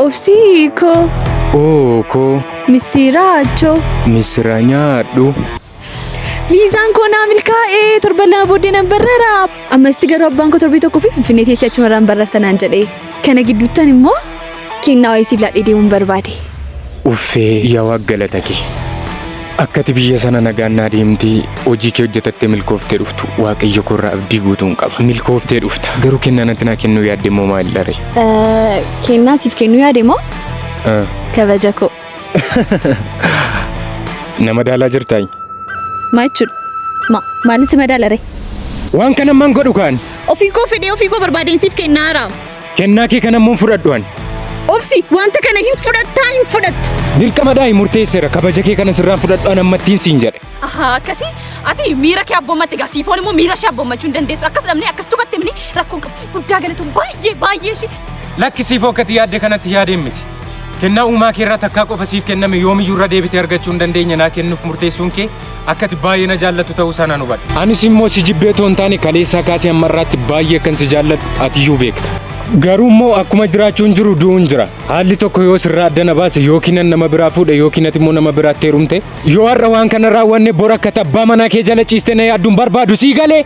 Obsii hiikoo. Oo koo Misiraachoo. misira nyaadhu. Viizaan koo naa milkaa'ee torban lama booddee nan barrara. Ammasitti garuu abbaan koo torbee tokkoo fi finfinnee teessee achumarraan barrarta naan jedhee. Kana gidduuttan immoo Kennaa wayii siif laadhee deemuun barbaade. Uffee yaa waaq galata kee. Akkati biyya sana nagaan naa deemtee hojii kee hojjetattee milkooftee dhuftu waaqayyo koorraa abdii guutuun qaba. Milkooftee dhufta. Garuu kennaa natti naa kennuu yaadde immoo maal dharee? Eh, Kennaa siif kennuu yaade moo Ah, kabaja koo Nama daalaa jirtaay? maa jechuudha? Ma maalitti madaalare? Waan kana man godhu kaani. Ofii koo fedhee ofii koo barbaadeen siif kennaara. Kennaa kee kana immoo hin fudhadhu ani. Obsi, wanta kana hin fudhattaa hin fudhatta. Dirqama daa'i murteesseera kabaja kee kana sirraan fudhadhu an ammattiin siin jedhe. Ahaa, akkasi ati miira kee abboomatte egaa siifoon immoo miira ishee abboommachuu hin dandeessu. Akkas dhabnee akkas tubatte mini rakkoon qabu. Guddaa galatoom baay'ee baay'ee ishee. Lakki siifoo akkati yaadde kanatti yaadeen miti. Kennaa uumaa kee irraa takkaa qofa siif kenname yoomiyyuu irra deebitee argachuu hin dandeenye naa kennuuf murteessuun kee Akka ati baay'ee na jaallattu ta'uu isaa nan hubadhe. Anis immoo si jibbee otoo hin taane kaleessaa kaasee ammarraatti baay'ee akkan si jaalladhu atiyyuu beekta. Garuu immoo akkuma jiraachuun jiru du'uun jira. Haalli tokko yoo sirraa adda na baase yookiin an nama biraa fuudhe yookiin ati immoo nama biraatti heerumte yoo har'a waan kana raawwanne bor akka abbaa manaa kee jala ciiste na yaadduun barbaadu sii galee?